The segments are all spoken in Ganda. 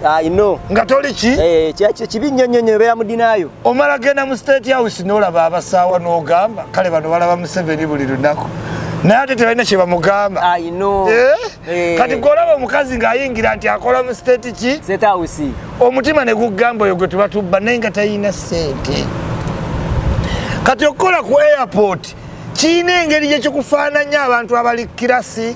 I know. Nga toli ki? Eh, kyacho kibi nnyo nnyo nnyo beera mu dinaayo. Omala genda mu state house n'olaba abasaawa n'ogamba kale bano balaba Museveni buli lunaku. Naye ate tebalina kye bamugamba. I know. Eh? Eh. Kati gw'olaba omukazi ng'ayingira nti akola mu state ki? State house. Omutima ne gugamba oyo gwe tubatubba naye nga talina ssente. Kati okukola ku airport kirina engeri gye kikufaananya abantu abali kirasi.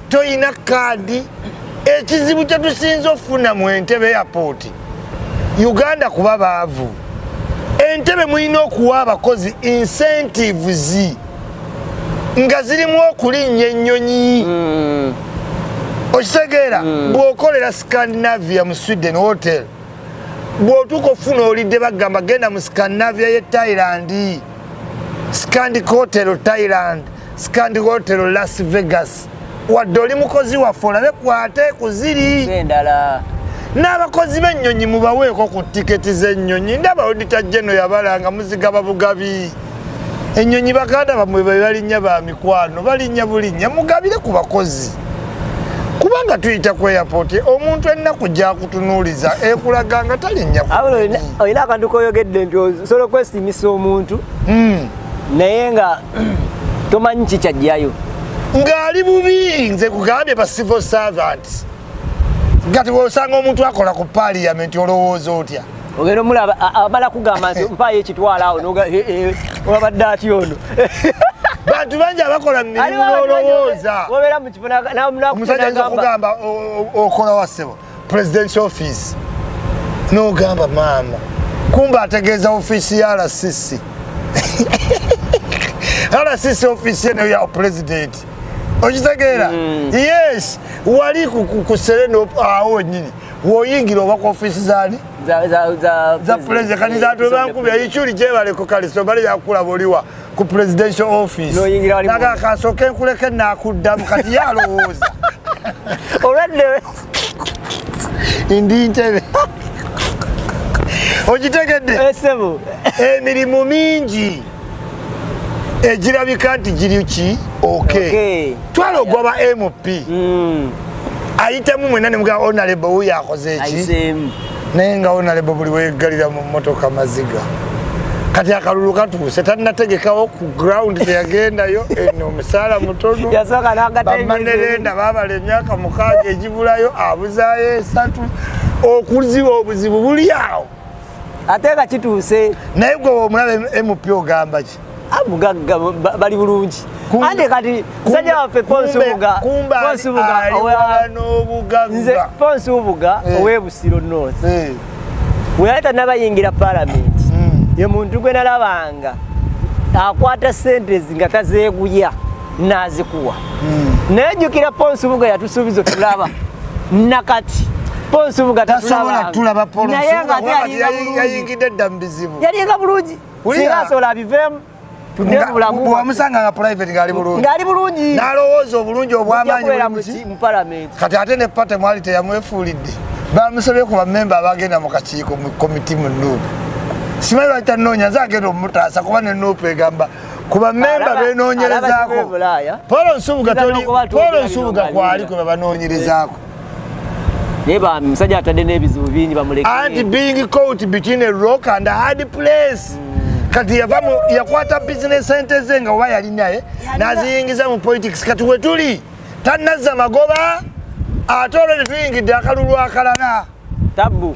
toyina kaadi ekizibu kyetusinza okufuna mu entebe yapooti uganda kuba baavu entebe mulina okuwa abakozi incentives nga zirimu okulinnya ennyonyi mm. okitegeera mm. bwokolera scandinavia mu sweden hotel bwotuuka okufuna olidde bagamba genda mu scandinavia ye thailand Scandi Hotel Thailand, Scandi Hotel Las Vegas. Wadde oli mukozi waffe olabe kwate ku ziri endala n'abakozi b'ennyonyi mubaweeko ku tiketi z'ennyonyi ndaba odita jeno yabalanga muzigaba bugabi ennyonyi baganda bamwe be balinnya ba mikwano balinnya bulinnya mugabire ku bakozi kubanga tuyita ku airport omuntu ennaku gyakutunuuliza ekulaga nga talinnya olina akantu koyogedde nti osobola okwesimisa omuntu hmm. naye nga tomanyi kikyajjayo ng'ali bubi nze kugambye ba civil servants gati wosanga omuntu akola ku parliament olowooza otya ogenda omulaba amala kugamba nti mpaayo ekitwala awo wabadde atya ono bantu bangi abakola mumirimu nolowooza omusajja ayinza okugamba okola wa ssebo presidential office nogamba maama kumba ategeeza ofiisi ya rcc rcc ofiisi eno ya president okitegeera mm. yes wali ku sereno awo wenyini woyingira oba ku offiisi zani za pulezidenti kati zatwe bankubya ikyuli gyebaleko kale sobali yakulaba oliwa ku presidential office naga kasooke nkuleke nakuddamu kati yalowooza olwaddewe ndi ntebe ogitegedde eh, emirimu mingi egirabika nti giri ki ok twala ogwa ba mp hmm. ayitamu mwena nemugaa onalebo oh, wuyo akoze eki naye nga onalebo oh, buli wegalira mu motoka maziga kati akalulu katuuse tanategekawo ku ground teyagendayo eno omusaala mutonu bamanerenda babala emyaka mukaaga egibulayo abuzayo esatu okuziba obuzibu buli awo ate nga kituuse naye gwe omulaba mp ogamba ki amugagga ah, bali bulungi ande kati musajja waffe ponsubuga ponsubuga eh. owebusiro north eh. weyali tanabayingira palamenti hmm. ye muntu gwe nalabanga akwata sente zi nga tazeeguya nazikuwa hmm. naye jukira ponsubuga yatusuubiza otulaba nakati ponsubuga tatulabanaye ngayayingidde dda mubizibu yalinga bulungi singa asobola abiveemu bwamusanga nga private ngali bulungi ngali bulungi nalowooza obulungi obwamaanyi mu palamenti kati ate ne pate mwali teyamwefuulidde bamusabye ku bamemba abagenda mu kakiiko mu komiti mu nuupu simanyi lwaki tanoonya nze agenda omutaasa kuba ne nuupu egamba ku bammemba beenoonyerezaako paul nsubuga toli paul nsubuga kwali kwe babanoonyerezaako naye bambi musajja atadde n'ebizibu bingi bamuleke anti being caught between a rock and a hard place mm. kati yavamu yakwata business sente ze nga oba yali naye naziyingiza mu politics kati wetuli tanazza magoba ate olwo tetuyingidde akalulu akalala tabu